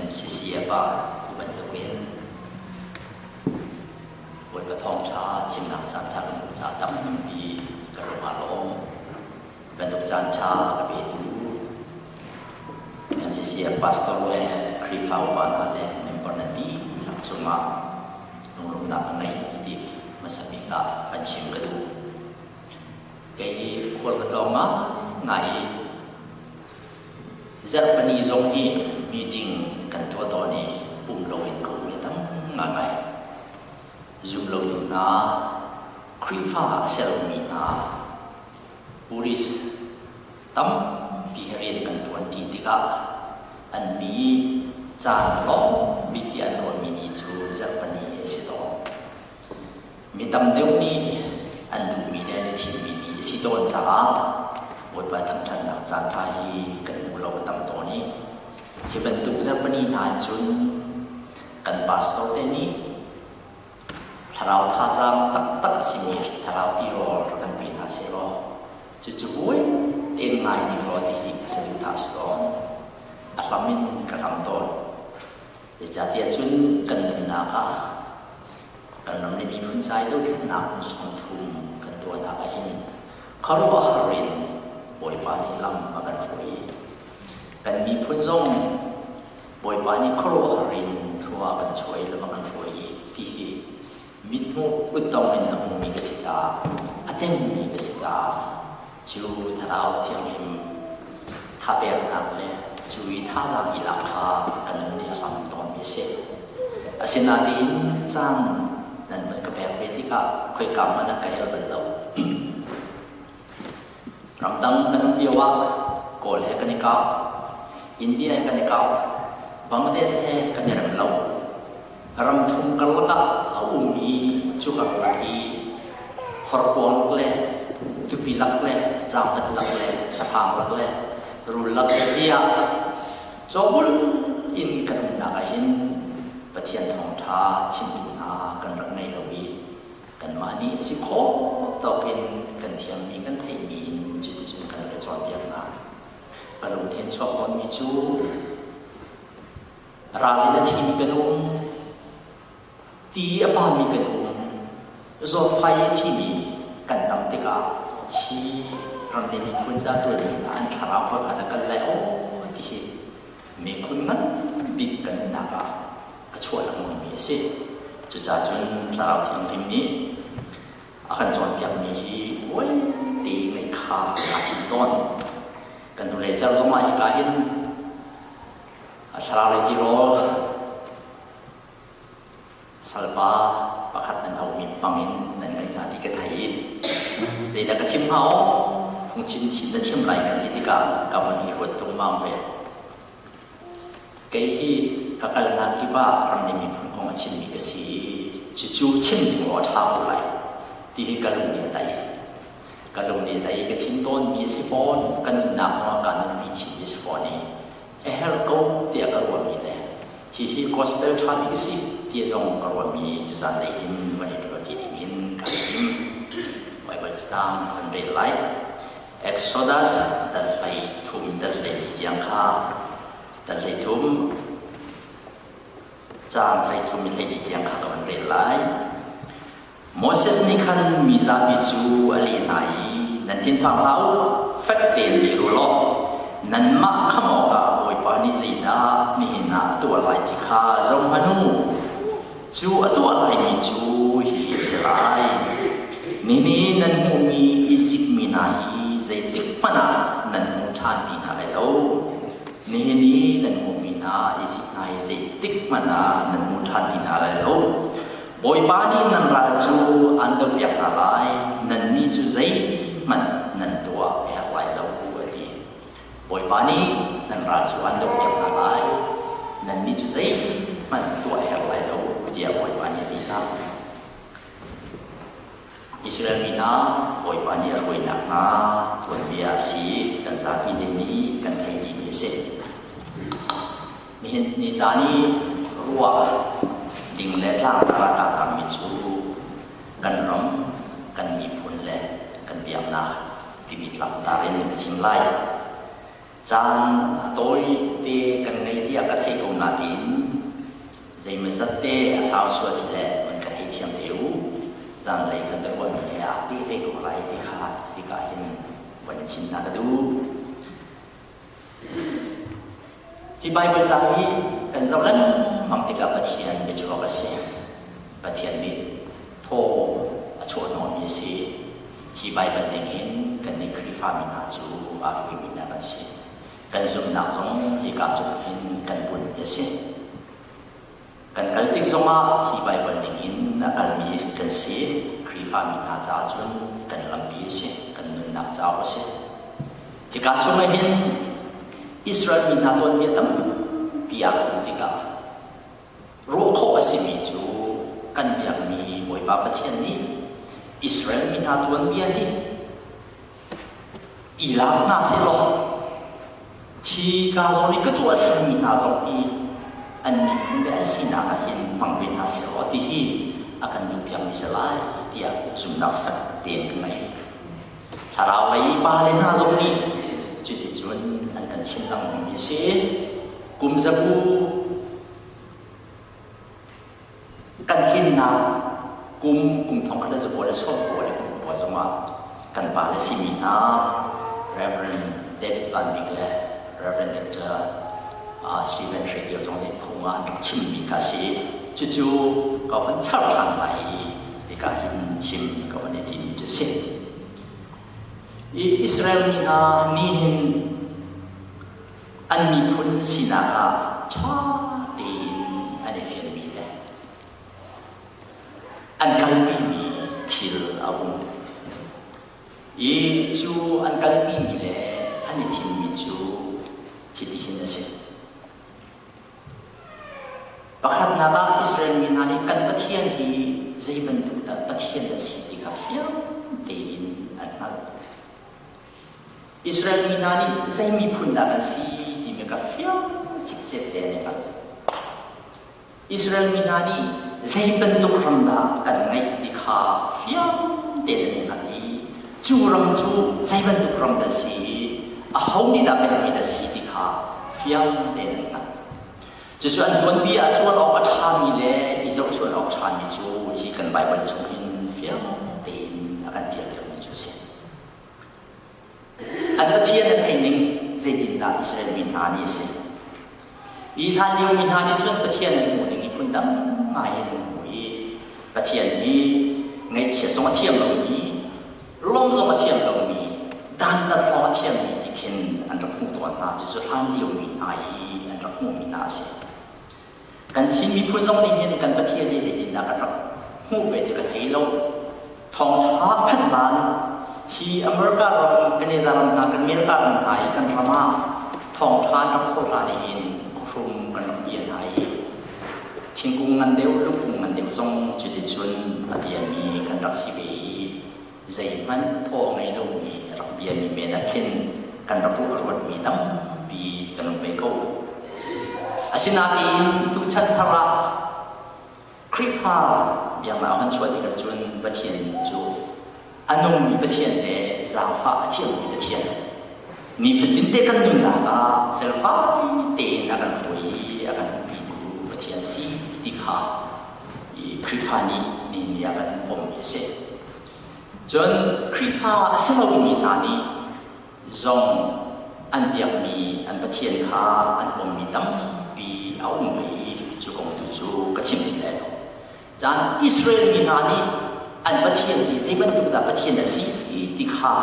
MCCF ah tu bantukin Bawipa Thawngṭha chimnak caanṭha kan hmuh ca tam tampi ka lung aa lawm. Bantuk caanṭha ka petu MCCF pastor le Khrihfa upa hna le member na dihlak cungah lunglawmhnak ka ngei ti hmasa bik ah kan chim ka duh. kei hi khual ka tlawng ngai i zarhpini zong hi meeting kan tuah tawn i um lo in ka um hi tam ngaingai zum lo tu hna Khrihfa a sermi hna police tampi he rian kan ṭuanṭi tikah an mi caan lawng mi ti an rawnmi ni cu zarhpini a si tawn. Mi tam deuh nih an duhmi le an i thimmi ni a si tawn caah Bawipa thangṭhatnak caanṭha hi kan hmu lo a tam tawn i hi bantuk Japanese hna in cun kan pastor te nih thlarau thazaang taktak a simi thlarau tirawl rak kan pe hna sehlaw cucu buai tein ngai ning law ti hi a si rih hna selaw a hlam in ka kam tawn. Zeicahtiah cun kan nunnak ah kan ram le miphun cai dothlennak hmuhsung phung kan tuahnak ah hin khuaruahhar in Bawipa nih lam a kan hruai i kan miphun zong Bawipa nih khuaruahhar in thlua a kan chuah i lam a kan hruai i ti hi Mitmuk kuttong in a hmumi ka si caah, a tengmi ka si caah cu thlarau thianghlim thapeknak le cu i thazaang i lak kha ka nun nih a hlam tawnmi a si. Asinain caan nan van ka pek ve tikah khoika hmanh ah ka herh bal lo. Ramdang kan um lio ah Kawl he kan i kau. India he kan i kau. Bangladesh he kan i rem lo. Ram thum karlak ah a ummi cu karlak i horkuang le tupi lak le zaangat lak le saphang lak le rul lak le tiah lak cawbul in kan umnak ah hin Pathian thawngtha chimtu hna kan rak ngei lo i kanmah nih si khawh tawk in kan thiammi, kan theihmi in cuticun kan i cawnpiaknak. Ka lungthin chuak tawnmi cu ral in a thimi kan um, ti a pami kan um, zawtfai i a thimi kan tam tikah hi ramdei miphun ca ṭuanmi hna an thlarau pakhat a kal lai, o ti hi miphun nganbik pennak ah a chuah lengmangmi a si. Cucaahcun Thlarau Thianghlim nih a kan cawnpiakmi hi uaite mei kha kaa hin tawn. Kan hnulei ser zongah hika hin a thlarau ti rawl salpa pakhat an auh mi hmang in nan ngaih hna ti ka thei i zeidah ka chim hnga aw phungchim chin na chim lai kan ti tikah ka hmun hi ruat tungmam ve kei hi ka kalnak kip ah ramri miphun kong a chimmi ka si i cucu chim ding law a ṭha ko lai ti hi ka lung nih a daih ka lung nih a daih i ka chim tawnmi a si fawn ka nunnak zong ah kaa nunpi chinmi a si fawn i a herh ko tiah ka ruahmi le hihi gospel ṭha bik a si ti zong ka ruahmi zanlei in va i ruati ding in kan tim. Bible stand kan rel lai. Exodus dal hlei thum dal hlei tiang kha dal hlei thum caan hlei thum hlei tiang kha ka van rel lai. Moses nih khan mi zapi cu a leh hna i, Nan thinphang hlah u, fek tein leh u law nanmah khamh awkah Bawipa nih zeidah nihin ah a tuah lai ti kha zoh hmanh u. Cu a tuah laimi cu hihi a si lai: Nihin nan hmuhmi Izipt mi hna hi zeitikhmanh ah nan hmu ṭhan ti hna lai lo. Nihin i nan hmuhmi hna Izipt hna hi zeitikhmanh ah nan hmu ṭhan ti hna lai lo. Bawipa nih nan ral cu an do piak hna lai, nannih cu zeihmanh nan tuah a herh lai lo, a ti. Bawipa nih nan ral cu an do piak hna lai, nannih cu zeihmanh tuah a herh lai lo, tiah Bawipa nih a ti hna. Israel mi hna, Bawipa nih a hruainak hna tuanbia a si kan zapi ding nih kan theih dihmi a si. Nihin ni caan i ruah ding le tlangtar ah kaa tangmi cu kan ram, kan miphun le kan biaknak timi tlangtar in kan chim lai. Caan a tawi te kan ngei tiah ka thei ko nain zeimazat te a sau sual si le man ka thei thiam te u. Zanlei kan biaruahmi he aa ti thei ko lai ti kha hika hin van chim hna ka duh. Hi Baibal ca hi kan zoh lengmang tikah Pathian biachuak a si. Pathian nih thaw a chawhnawmi a si. Hi Baibal ningin kannih Khrihfami hna cu aa hluimi hna kan si. Kan zumhnak zong hika tluk in kan bunhmi a si. Kan kal tik zongah hi Baibal ningin a kalmi kan si, Khrihfami hna caah cun kan lampi a si, kan nunnak cauk a si. Hika chungah hin Israel mi hna tuanbia tampi aa khuh tikah ruah khawh a simi cu kan biakmi Bawipa Pathian nih Israel mi hna tuanbia hi i lak hna sih law hi ka zong i ka tuah a simi hna zong hi an miphun le an sinak ah hin hmang ve hna sih law ti hi a kan duhpiakmi si lai tiah zumhnak fek tein ka ngei thlarau lei pa le hna zong nih cuti cun an kan thinlangmi a si kum zabu kan himnak kum kum thong khat le zabual le sawmpual le kumpual zongah kan pa le simi hna Reverend David Van Bik le Reverend Dr. Uh, Stephen Hre Dio zong nih phung ah an rak chimmi kha si cucu ka van char ṭhan lai i hika hin chim ka van i timi cu si i Israel mi hna nih hin an miphun sinak ah ṭha tein an i fianmi le an kalmi mi thil a um. I cu an kalmi mi le an i thimmi cu hitihin a si. Pakhatnak ah Israel mi hna nih kan Pathian hi zei bantuk dah Pathian a si ti kha fiang tein an hngalh. Israel mi hna nih zei miphun dah an si timi ka fiang cikcek te an i hngal. Israel mi hna nih zei bantuk ram dah kan ngeih ti kha fiang tein an i hngal i cu ram cu zei bantuk ram dah si i a ho nih dah pekmi dah si ti kha fiang tein an hngal. Cucu an tuanpi ah cuan awk a ṭhami le i zohchuan awk a ṭhami cu hi kan Baibal chung in fiang tein a kan ṭial deuhmi cu a si. An Pathian an theih ning zeitindah Israel mi hna nih a si? Hi hlan lio mi hna nih cun Pathian an hmuh ning hi phundang ngai in an hmu i Pathian hi ngaihchia zong a thiam lomi, ruam zong a thiam lomi, dantat hrawng a thiammi ti khin an rak hmuh tawn hna. Cucu hlan lio mi hna i an rak hmuhmi hna a si. Kan Chin miphun zong nih hin kan Pathian hi zeitindah kan rak hmuh ve cu kan hei lo. Thawngtha phanhman hi America ram, Canada ram hna, kan America ram hna i kan ram ah thawngtha an rak khawl hlan i in khrum kan rak tial hna i thingkung ngan deuh, lukung ngan deuh zong cuticun a tialmi kan rak si ve i zeihmanh thawh a ngei lomi ram biami men ah khin kan rak ruah a ruatmi tampi kan um ve ko. Asinain tuchan thar ah Khrihfa biaknak han chuah tikah cun Pathian cu a nungmi Pathian le zaangfah a thiangmi Pathian nifatin te kan nunnak ah felfai tein a kan hruai i a kan hmuhpitu Pathian si ti kha Khrihfa nih nihin ni ah kan pom a si. Cun Khrihfa a si lomi hna nih zong an biakmi an Pathian kha an ummi tampi a um ve i cu kong tu cu ka chim ti lai lo. Caan Israel mi hna nih an Pathian hi zei bantuk dah Pathian a si ti kha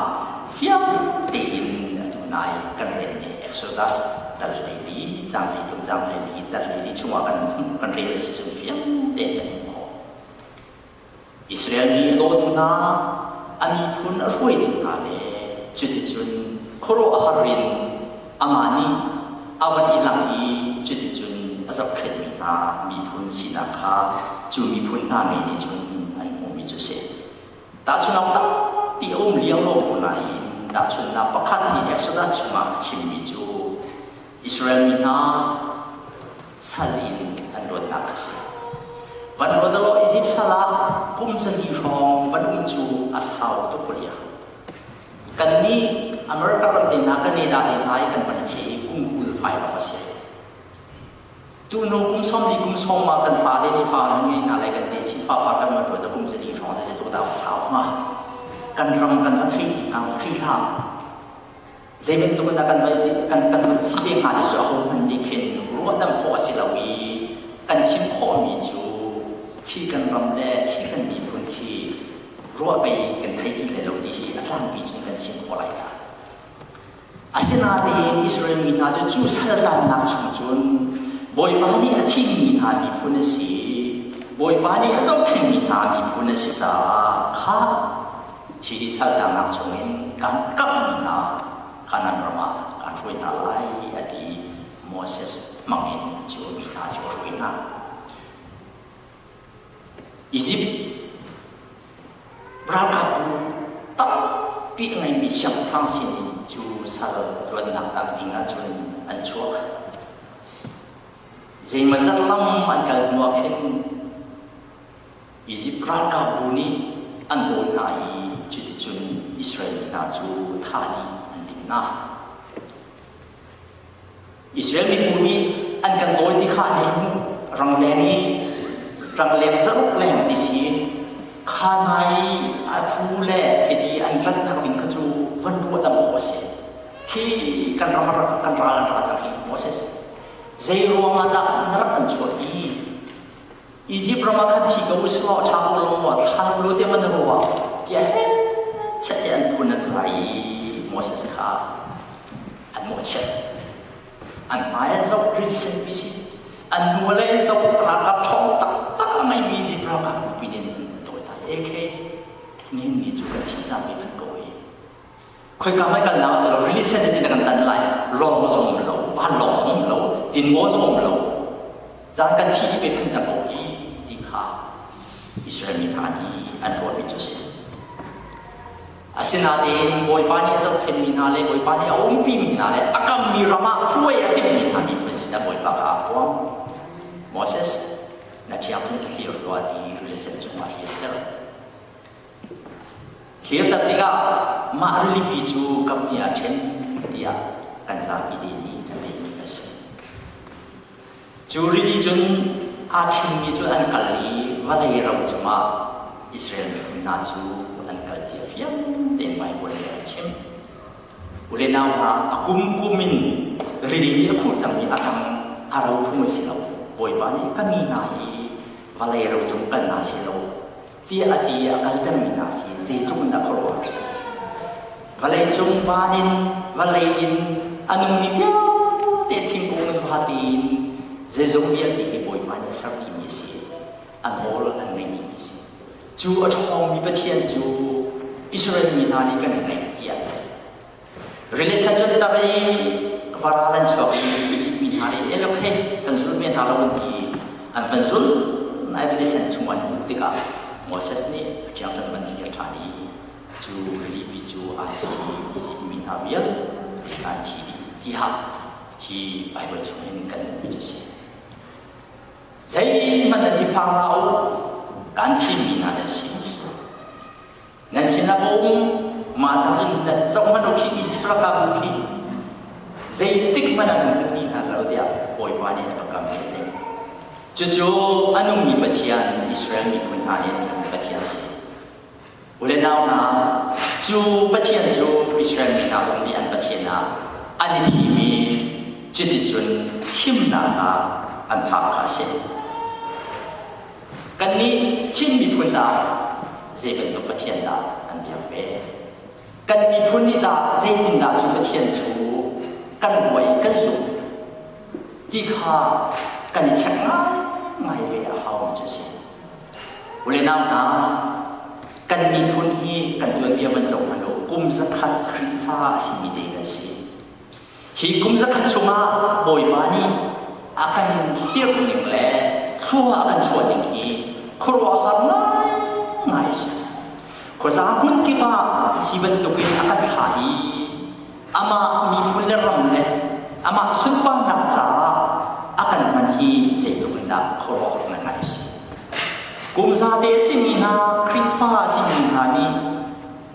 fiang tein atu nai kan relmi Exodus dal hleili, caang hleithum caang hleili, dal hleili chungah kan kan rel a si cu fiang tein kan hmuh khawh. Israel mi a dawtu hna, a miphun a hruaitu hna le cuticun khuaruahhar in amah nih a van i langh i cuticun a zohkhenhmi hna miphun sinak kha cu miphun hna mi nih cun an hmuhmi cu a si. Tahchunhawk tampi a um lio lawng hnu nain tahchunhnak pakhat nih Exodus chungah a chimmi cu Israel mi hna sal in an luatnak a si. Van luat law Izipt sal ah kum sali hrawng van um cu a sau tuk liah. Kan nih America ram te na kan ne da ne lai kan van che i kum kul fai awk a si. Tu hnu kum som li kum som ma kan fa le ni fa nu ngi na lai kan te chin pa pa kan ma luat kum sali hrawng ze to da sau ma. Kan ram kan va thei na thei hla. Zei bantuk in a kan rel dih, kan kan rel chih ve hnga ti cu ahohmanh nih khin ruahdamh khawh a si lo i kan chim khawhmi cu khi kan ram le khi kan miphun khi ruah pei kan thei ti hlei lo ti hi a tlangpi cun kan chim khawh lai dah. Asinain Israel mi hna cu cu saltannak chung cun Bawipa nih a thimmi hna miphun a si i Bawipa nih a zohphengmi hna miphun a si caah kha Hihi saltangnak chungin kan kamhmi hna Kanaan ram ah kan hruai hna lai, a ti i Moses hmangin cu mi hna cu a hruai hna. Izipt ralkapbu tampi a ngeimi siangpahrang sinin cu sal luatnak tak dingah cun an chuah. Zeimazat lam an kal hnuah khin Izipt ralkapbu nih an dawi hna i cuticun Israel mi hna cu thah dih an timh hna. Israel mibu nih an kan dawi ti kha an hmuh, rangleng i rangleng zaruk leng ti si in kha hna i a thu le khiti an ratnak ding kha cu van ruahdamh khawh a si. Khi kan ram kan ral hna cang hi Moses, zei ruangah dah na rak an chuah i Egypt ram ah khan thi ko usih law ṭha ko law thlan lu tiang an ruah tiah he chiat te an phun an sa i Moses kha an mawhchiat an hmai an zoh green set pi si an hnu le zoh ralkap ṭhawng taktak a ngeimi Egypt ralkap pin in an dawi hna e khe nihin ni cu kan thi zapi an ko i Khoika hmai kalnak rili set in na kan tanh lai lawng zong um lo van lawng zong um lo inn aw zong um lo caan kan thi i beth an cang i ti kha Israel mi hna nih an ruahmi cu si asinain Bawipa nih a zohkhenmi hna le Bawipa nih a umpimi hna le a kammi ram ah hruai a timmi hna nih cun sinah Bawipa kha a huang Moses na ṭhiang chung thlir tuah ti rili set chungah hi a ser Thirtat tikah mah rilipi cu kamni ah ṭhen tiah kan zapi te nih an timi a si. Cu rili cun aa ṭhengmi cu an kal i vawlei ram cungah Israel miphun hna cu an kal ti a fiang tein Baibal nih a chim. Ule nau hna, a kum kum in rili nih a khur cangmi a tang a ro phung a si lo. Bawipa nih ka mi hna hi vawlei ro cung kal hna seh law tiah a ti i a kaltermi hna si zeitluk in a khuaruahhar a si. Vawleicung van in, vawlei in a nungmi vialte thingkung in va tein zeizong vialte hi Bawipa nih a ser dimi a si i a nawl an ngaih dimi a si. Cu a ṭhawngmi Pathian cu Israel mi hna nih kan ngaih tiah Release ah cun tar i varal an chuak i bisikmi hna nih eh okay kan zul ve hna lo an ti an kan zul nain release an chung an hmuh tikah Moses nih a tiang kan man thlir ṭhan i cu rilipi cu aa thi i bisikmi hna vialte an thi dih tiah hi Baibal chung in kan hmuh a si. Zeihmanh an hi phang hlah u, kan thimi hna hi a si. Nan sinah a um, mah ca cun na zohhmanh u khi Izipt ram ah um khi zeitik hmanh ah nan ka ti hna lo tiah Bawipa nih a ka kam a ti. Cucu an ummi Pathian, Israel miphun hna nih Pathian si. Ule nau hna, cu Pathian cu Israel mi hna zong nih an Pathian ah an i thim i cuticun himnak ah an phak kha a si. Kannih Chin miphun dah zei bantuk Pathian dah kan biak ve? Kan miphun nih dah zeitindah cu Pathian cu kan ruah i kan zumh ti kha kan i check ngaingai ve a haumi cu a si. Ule nau hna, kan miphun hi kan tuanbia van zoh hmanh law kum zakhat Khrihfa a simi te kan si. Hi kum zakhat chungah Bawipa nih a kan dirh ning le thlua a kan chuah ning hi khuaruahhar ngaingai a si. Khuasa hmun kip ah hi bantukin a kan thlah i amah miphun le ram le amah sunparnak caah a kan hman hi zeitluk in dah khuaruahhar ngaingai a si. Kum zate a simi hna, Khrihfa a simi hna nih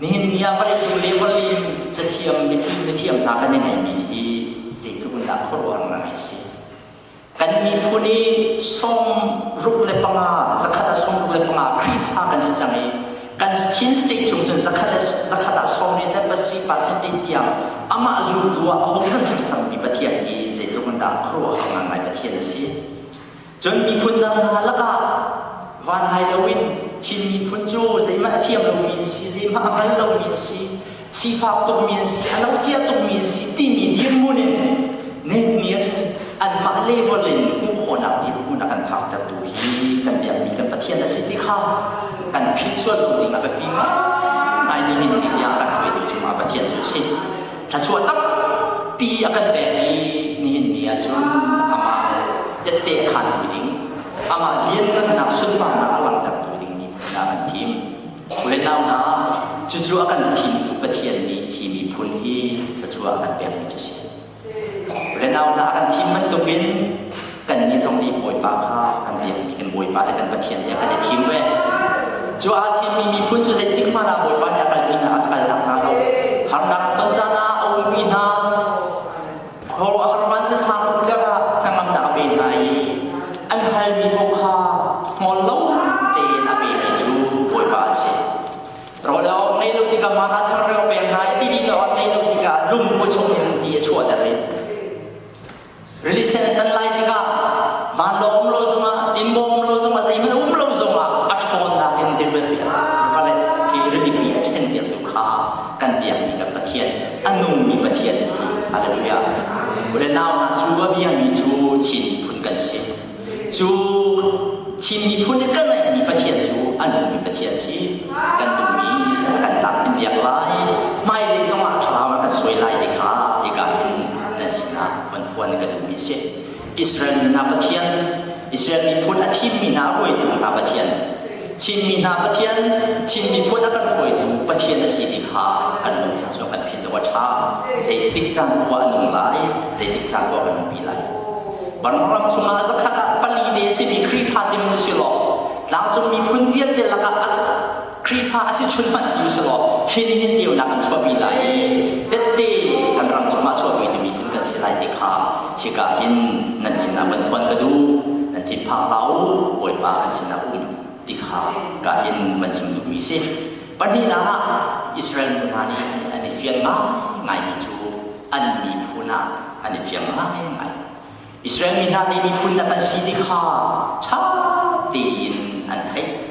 Nihin ni ah vawlei cung le vawlei in cathiang mipi mithiam hna kan i ngaihmi hi zeitluk in dah khuaruah rai a si. Kan miphun i sawm ruk le panga, zakhat ah sawm ruk le panga Khrihfa kan si cang i kan Chin state chung cun zakhat le zakhat ah sawm le pasih percentage tiang amah zultu ah a hun kan si cangmi Pathian hi zeitluk in dah khuaruah ngai Pathian a si. Cun miphun dang hna lakah van hai loin Chin miphun cu zeihmanh a thiam lomi an si, zeihmanh a hngal lomi an si, sifak tukmi an si, a lo cia tukmi an si timi dirhmun in neihmi ahcun anmah level in hmuh khawhnak dirhmun a kan phaktertu hi kan biakmi kan Pathian a si ti kha kan philh sual lo ding a biapi ngaimi ngai nihin ni tiang a kan hruaitu cu mah Pathian cu a si. Thluachuah tampi a kan pek i nihin ni ah cun amah tette khanmi ding, amah lianhngannak sunparnak a langhtertu ding mi hna kan thim. Le nau hna, cucu a kan thimtu Pathian nih hi miphun hi thluachuah an pekmi cu a si. Le nau hna a kan thim bantukin Kannih zong nih Bawipa kha kan biakmi kan Bawipa le kan Pathian tiah kan i thim ve. Cu aa thimmi miphun cu zeitik hmanh ah Bawipa nih a kalmi hna a kaltak hna lo. Harnak a ton caan ah a ulpi hna. Khuaruahhar van se sang tlak ah hnangamnak a pe hna i an halmi paoh kha hngol lo tein a pemi cu Bawipa a si. Rawl a awt ngei lo tikah man a changreu pek hna i ti ding a awt ngei lo tikah lungpu chung in ti a chuahter i Rilisan kan lai tikah vanlo um lo zongah tinbaw um lo zongah zeihmanh um lo zongah a ṭhawnnak in dirvet pi vale hi rilipi a ṭhen dirtu kha kan biakmi kan Pathian a nungmi Pathian a si. Hallelujah. Ule nau hna cu a biami cu Chin miphun kan si. Cu Chin miphun nih kan ngeihmi Pathian cu an duhmi Pathian si. Kan duhmi kan tlamtlin piak lai. Hmailei zong ah thlarau in kan suai lai te kha hika hin nan sinah van phuan in ka duhmi a si. Israel mi hna Pathian, Israel miphun a thimmi hna, a hruaitu hna Pathian, Chinmi hna Pathian, Chin miphun a kan hruaitu Pathian a si ti kha kan lungthin cu kan philh lo a ṭha. Zeitik cangkua a nung lai, zeitik cangkua kan nungpi lai. Vanram chungah zakhat ah pali te a si mi Khrihfa si hmanh si law, tlangcung miphun vialte lakah a Khrihfa a si chun hmanh si si law, hi nih hin ceunak an chuahpi lai. Tette kan ram chungah chuahpi tu miphun kan si lai ti kha Hika hin nan sinah van khuan ka duh, nan thinphang hlah u, Bawipa kan sinah um ti kha ka hin van chim duhmi a si. Pahnihnak ah, Israel mi hna nih an i fian ngaingaimi cu an miphun ah an i fiang ngaingai. Israel mi hna zei miphun dah kan si ti kha ṭha tein an theih.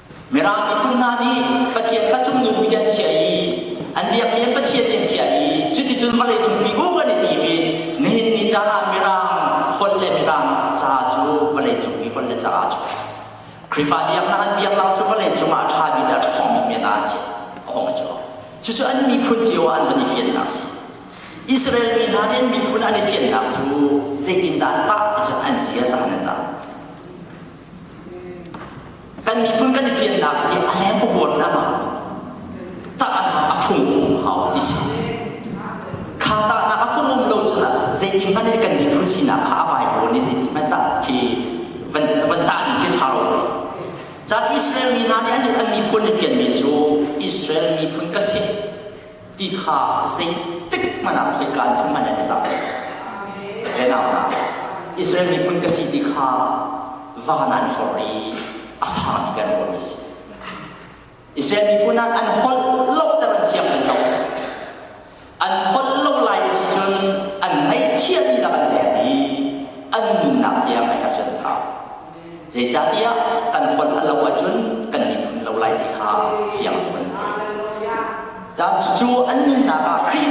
Mirang miphun hna nih Pathian kha cung nu hui an chiah i an biakmi an Pathian nih an chiah i cuticun vawlei chungpi bu kan i ti i nihin ni caah Mirang holh le Mirang caah cu vawlei chungpi holh le caah cu Khrihfa biaknak an biaknak cu vawlei cungah a ṭhami le a ṭhawngmi men aa chiah khawng a cuak cucu an miphun cio ah an van i fiannak a si Israel mi hna nih an miphun an i fiannak cu zeitindah tah ticun an si a sahan an tah kan miphun kan i fiannak hi a lem vuan nam ah takah a fung hau ti si kha taknak a fung um lo cun ah zeitin hmanh i kan miphun sinak kha a vai pawn i zeitin hmanh tak khi van van ta ning khi tha lo cun Israel mi hna nih an an miphun in fian men cu Israel miphun ka si ti kha zeitik hmanh ah khoikaan in hman an i zam. Ve nau hna, Israel miphun ka si ti kha van an hlor i a sang i kan ruahmi si. Israel miphun ah an holh lo ter an siang tung lo. An holh lo lai si cun an ngaihchiah mi dah an der i an nunnak tiang a herh chan thau. Zeicahtiah kan fonh a lo ahcun kan miphun lo lai ti kha fiang tuk an ti. Caan cucu an nunnak ah Khrih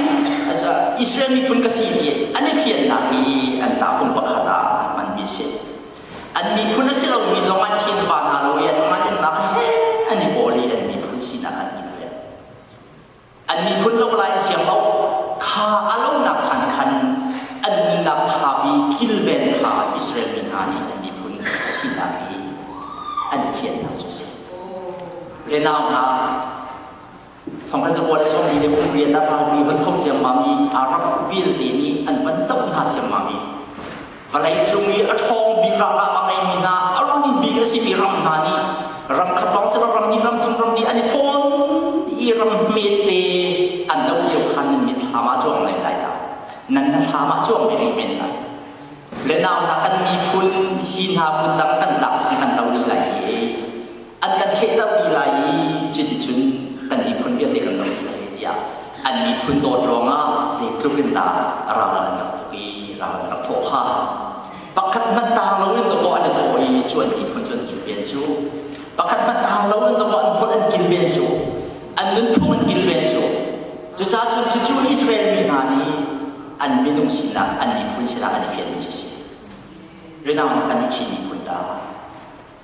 Israel miphun ka si ti an i fiannak hi an tahfung pakhat ah an hmanmi a si. An miphun a si lomi zong an thinpa hna law i an hmannak he an i pawl i an miphun sinak an ti ve. an miphun lo lai a siang lo kha a lonak chan khan an nunnak ṭha i kilven kha Israel mi hna nih an miphun sinak i an fiannak cu si le nau hna thawnghan zabuah le sawmli le pumri a dahang mi hun tho ciammam i Arab vialte nih an van doh hna ciammam i Vawlei cung i a ṭhawng bik ralkap a ngeimi hna, a rum bik a simi ram hna nih ram khat lawng cu ram hnih ram thum ram li an i thawn i ram hmete an do lio khan nan mit thlam ah cuang men lai dah nan na thlam ah cuang ve rih men lai le nau hna kan miphun hi hna phun dang kan lak cu kan do rih lai i an kan thehtermi lai i cuticun kan miphun vialte kan ram lai tiah an miphun dawt ruangah zeitluk in dah ral an rak tuk i ral an rak thawh hnga pakhat hmanh taang loin dawkaw an i thawh i cu an miphun cu an kilven cu pakhat hmanh taang loin dawkaw an phun an kilven cu an nunphung an kilven cu cucaah cun cucu Israel mi hna nih an minung sinak an miphun sinak an i fianmi cu si rinang kan i thi miphun dah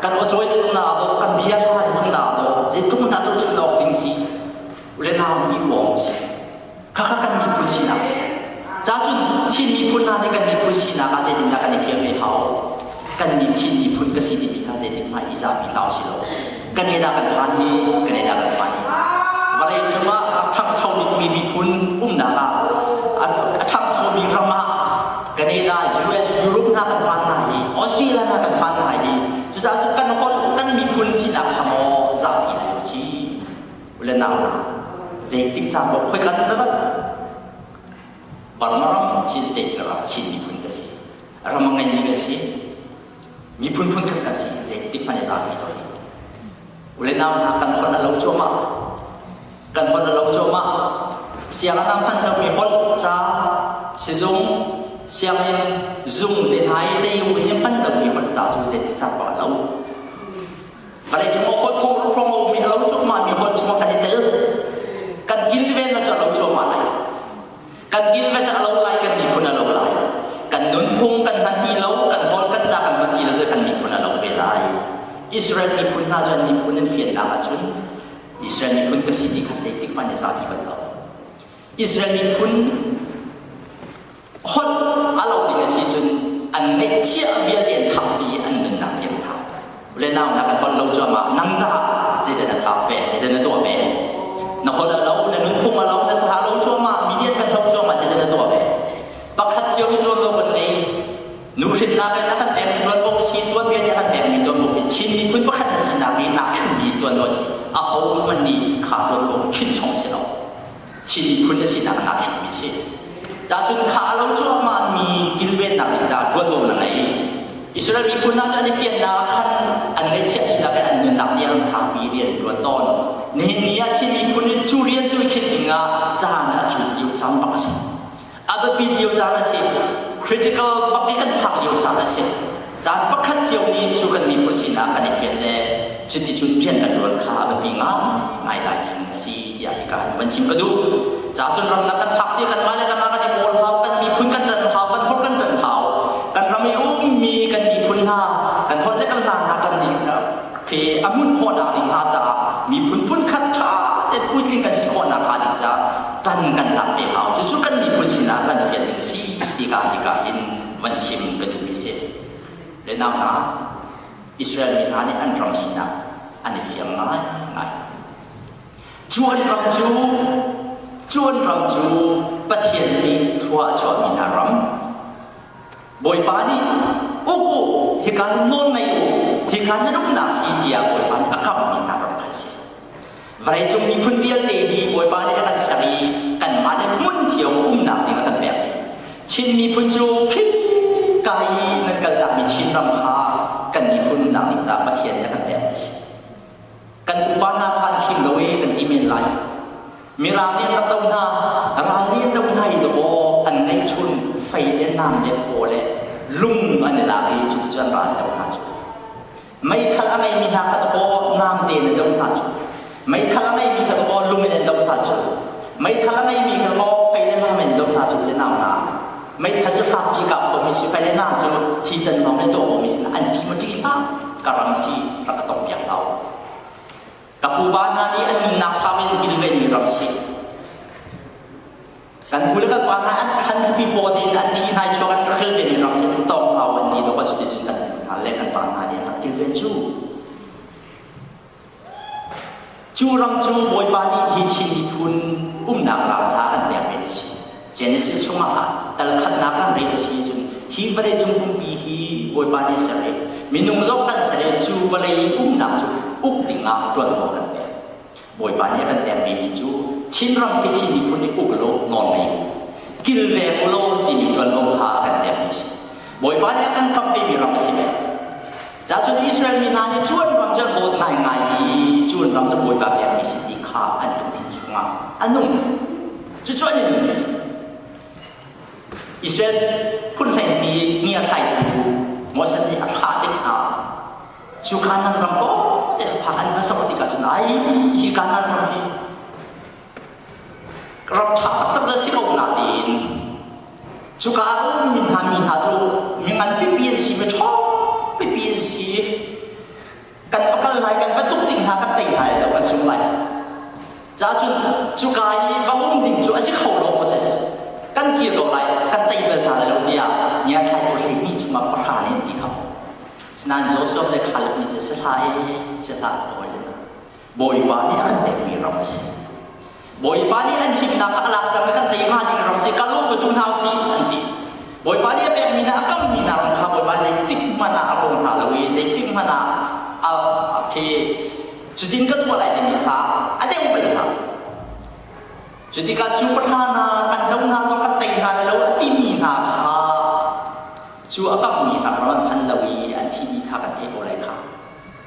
kan aw cawi ding na lo kan bia hna ding na lo je tuk hna su thun awk ding si ule na mi wong si kha kha kan mi pu si nak si cha chun thin mi phun na ni kan mi pu si na ka je din na kan ni fiang ve hao kan ni thin mi phun ka si ti mi ka je din mai iza mi tao si lo kan ne da kan phan hi kan ne da kan phan hi walai chunga thang chau mi mi phun um na ka a thang chau mi rama Kanina US Europe hna kan paan hna i Australia hna kan paan hna i cucaah cun kan holh kan miphun sinak kha maw zapi an i ci ule nau zeitik caan maw khoikat na rat Burma ram Chin state ram Chin miphun ka si ram a ngeimi ka si Miphun phunthum kan si, zeitik hmanh i zaangmi lo nih. U le nau hna, kan holh a lo cuahmah. Kan holh a lo cuahmah. Sianginn hman lomi holh, ca, sizung, sianginn, zung le nai teiu he hman lomi holh, ca cu zeitik cang ko a lo. Vale cung a holh khong khong a ummi a lo cuahmahmi holh chung kan i tel. Kan kilven lo cu a lo cuahmah lai. Kan kilvec a lo lai, kan miphun a lo lai. Kan nunphung kan hman ti lo, kan nawl kan za kan hman ti lo, kan miphun a lo ve lai. Israel miphun hna cu an miphun an fiannak ahcun Israel miphun ka si ti kha zeitik hmanh in zapi bal lo. Israel miphun holh a lo ding a si cun an ngeih chiah vialte an thangpi i an nunnak hi an thang. Ule nau na kan pal lo cuamah nang dah cile na thap ve cile na tuah ve na hol a lo na nunphung a lo na caha lo cuamah mi niat kan thop cuamah cile na tuah ve pakhat cio hi tuan lo kan nei nu hrinnak in a kan pek tuan bo si tuan ve a kan pek mi tuan bo fi Chin miphun pakhat na sinak hi nak khan mi tuan lo si a ho man nih kha tuan bo chin chong si lo Chin phun a sinak a nak mi a si. Cacun kha a lo cuahmah mi kilvennak ding caah tuanvo na ngei. Israel miphun hna cu an i fiannak khan an ngaihchiah dihlak in an nunnak tiang hangpi rian an tuan tawn. Nihin ni ah Chin miphun in cu rian cu i khinh ding ah caan a cu lio cang bak a si. A biapi lio caan a si. Critical bak i kan phak lio caan a si. Caan pakhat cio nih cu kan miphun sinak kan i fian le cuticun rian kan ṭuan kha a biapi ngaingai lai ding a si tiah hika kan van chim ka duh. Ca cun ramdang kan phak tiah kanmah le kanmah kan i kawl hau, kan miphun kan ṭan hau, kan holh kan ṭan hau. Kan ram i ummi kan miphun hna, kan holh le kan hla hna kan nih Hi a hmunh khawhnak ding hna caah miphun phunkhat ṭha in puitling kan si khawhnak hnga ding caah kan kan lak ve hau. Cucu kan miphun sinak kan fian ding a si ti ka hika in van chim ka duhmi si. Le nau hna, Israel mi hna nih an ram sinak an i fiang ngai ngai. Cuan ram cu cuan ram cu Pathian nih thlua a chuahmi hna ram Bawipa nih uk u hika nawl ngei u hika na rumnak si tiah Bawipa nih a kamhmi hna ram kha a si vawleicung miphun vialte hi Bawipa nih a kan ser i kanmah nih hmun cio umnak ding a kan pek Chin miphun cu phit kai nan kalnak mi Chin ram kha kan miphun nang nih ca Pathian nih a kan pek a si kan upa hna kha an him lo i kan ti men lai mirang nih rak do hna ralri do hna i dawh an neih chun fei le nam le phaw le lung an i lak i cuticun ral do hna cu meithal a ngeimi hna kha dawh nam tein an do hna cu meithal a ngeimi kha dawh lung in an do hna cu meithal a ngeimi kha dawh fei le nam in do hna cu i nau na Meitha cu hrapi kah khomi sifayanak cu hi can lawng le dawmi sinah an ṭi maṭi hlah ka ram si rak ka tong piak hau. Ka pupa hna nih an nunnak thap in kilvenmi ram si. Kan pu le kan pa hna an an pi paw din an thi nai chuak an kilvenmi ram si an tong hau an ni lo kan cuti cun kan pu hna le kan pa hna nih an rak kilven cu. Cu ram cu Bawipa nih hi Chin miphun umnak ram ca kan pek ve a si. Genesis chungah ah talkhannak kan rel a si cun hi vawleicung pumpi hi Bawipa nih a ser i minung zong kan ser i cu vawlei umnak cu uk dingah ṭuanvo kan pek. Bawipa nih a kan pek vemi cu Chin ram khi Chin miphun nih uk law nawn ngei u, kilveng u law timi ṭuanvo kha a kan pekmi a si. Bawipa nih a kan kamh vemi ram a si ve. Cahcun Israel mi hna nih cu an ram cu a dawt ngaingai i cu an ram cu bawipa biakmi si ti kha an lungthin chungah a nung. Cucu an i nung ve. Israel phunhleinpi ngiathlaitu Moses nih a thlah te hna. Cu Kanaan ram tawte phak an va sok tikah cun ai hi Kanaan ram hi Corrupt ṭha taktak cu a si ko nain cuka ah ummi hna mi hna cu mi ngan pipi an si, mi ṭha pipi an si. Kan va kal lai, kan va tuk ding hna kan tei hna lai lo, kan sung lai. Cahcun cuka i va um ding cu a si kho lo maw sas? Kan kir ko lai, kan tei bal hna lai lo tiah ngiatthlai tu hleihnih chungah pahra nih an ti kho. Sinain Josef le Kaleb nih cun sehla i sehla a kawl in Bawipa nih a kan pekmi ram a si. Bawipa nih an himnak a lak cang i kan tei hnga ding ram a si. Kal u, ka tu hna u sih an ti. Bawipa nih a pekmi hna, a kalmi hna ram kha Bawipa zeitik hmanh ah a rawng hna lo i zeitik hmanh ah a, a thi. Cutin ka tuah lai timi kha a deu bal hna. Cu tikah cu pahra hna kan do hna zong kan tei hna lo a timi hna kha cu a kammi ram an phan lo i an thihni kha kan thei ko lai kha.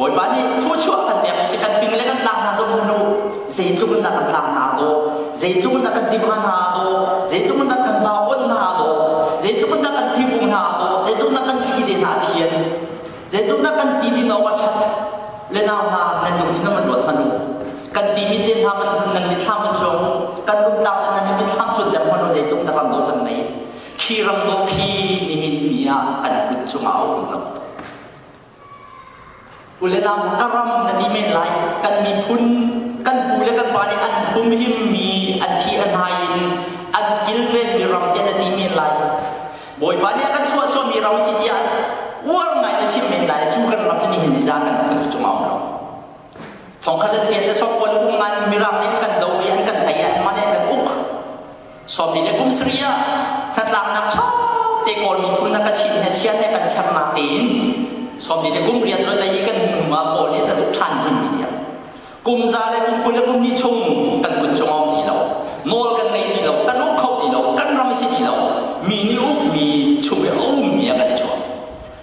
Bawipa nih phu chuah kan pek si kan fing le kan tlak hna zong hnu zeitluk in dah kan tlak hna daw zeitluk in dah kan timh hna daw zeitluk in dah kan hma on hna daw zeitluk in dah kan thibung hna daw zeitluk in dah kan thi te hna thian zeitluk in dah kan ti din awk a that le nau hna nan lung sinam an ruat hmanu kan ti mi te hna nan mitthlam an cung kan lungtlang le kan mitthlam chun der hmanu zeitluk dah ram do kan nei khi ram do khi nihin ni ah kan kut chung a um lo Kulenam ka ram na ti men lai kan miphun kan pu le kan pa nih an humhim mi an thi a hnai in an kilven mi ram tiah na ti men lai Bawipa nih a kan chuah chuah mi ro si tiah uar ngai na chim men lai cu kan ram cu ni hin ni zan kan kan tu cung a um lo thong khat le sken le som pawl hum ngan mirang nih an kan do i an kan thai i an man in an kan uk Sopi le kum sarih ah hnatlaknak ṭha te kawl miphun na ka chinh he sian he kan sam ma tein Sopi le kum rian lo lei i kan hnu ah kawl le na duk ṭhan hun ti tiang kum za le kum kul le kum hnih chung kan kut chung ong ti lo nawl kan ngei ti lo kan uk kho ti lo kan ram si ti lo mi nih uk mi chung i a um mi a kan chuak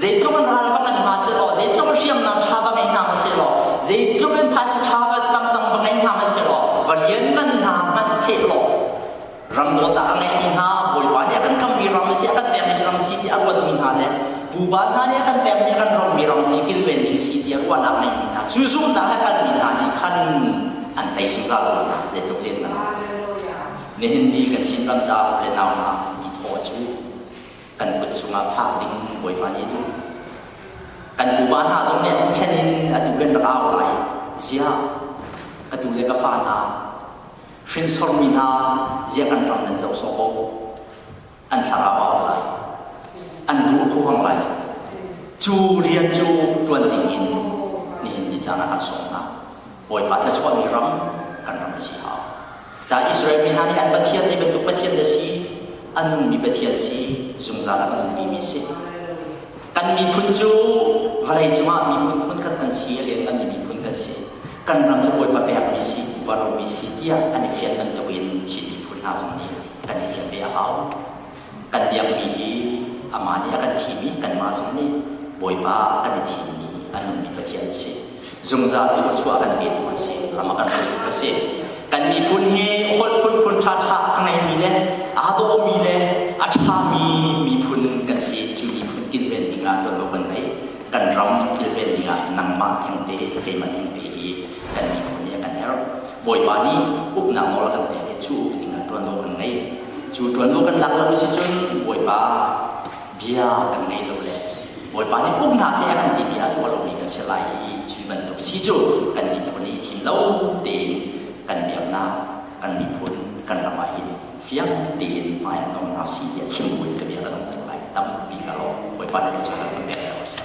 zeitluk in ral va ngan hna seh law zeitluk in hriamnam ṭha va ngei hna hna seh law zeitluk in phaisa ṭha va tamtang va ngei hna hna seh law va lianngan hna hmanh seh law ram dawtah a ngeihmi hna bawipa nih a kan kammi ram a si a kan pekmi ram si tiah a ruatmi hna le pupa hna nih a kan pekmi a kan romi ram hi kilven ding si tiah ruahnak ngeihmi hna cu zumhnak a kalmi hna nih khan an thei zungzal lo zeitluk lianngan nihin ni kan Chin ram caah le nau hna mi thaw cu kan kut cungah phak ding Bawipa nih a duh. Kan tupa hna zong nih an sen in a tu in rak au lai ziah ka tu le ka fa hna hrinsormi hna ziah kan ram nan zoh sawh ko an thlarau au lai an ruh khuang lai cu rian cu tuan ding in nihin ni caan ah kan sawm hna Bawipa thluachuahmi ram kan ram a si hau. Caan Israel mi hna nih an pathian zei bantuk pathian dah si, an nunmi pathian si, zungzal ah an nunmi mi si. Kan miphun cu vawlei cungah miphun phun kan an si, a lianhnganmi miphun kan si. Kan ram cu Bawipa pekmi si, upa romi si tiah an i fian bantuk in Chin miphun hna zong nih kan i fian ve a hau. Kan biakmi hi amah nih a kan thimi kanmah zong nih Bawipa kan i thimmi a nunmi pathian a si. zungzal thluachuah kan pe tu an si ram a kan hruai tu a si kan miphun hi holh phunphun ṭha ṭha a ngeimi le aa dawmi le a ṭhami miphun kan si cu miphun kilven ding ah ṭuanvo kan ngei kan ram kilven ding ah nangmah thengte keimah thengte hi kan miphun nih a kan herh bawipa nih uknak nawl a kan pek i cu uk ding ah ṭuanvo kan ngei cu ṭuanvo kan lak lo si cun bawipa bia kan ngaih lo le Bawipa nih um hna seh kan timi a tuah lomi kan si lai i cu bantuk si cu kan miphun i thim lo tein kan biaknak kan miphun kan ram ah hin fiang tein hmai an nong hna si tiah chim buin ka bia a nong tuk lai tampi ka lawm Bawipa nih ka cungah kan bia seh ko seh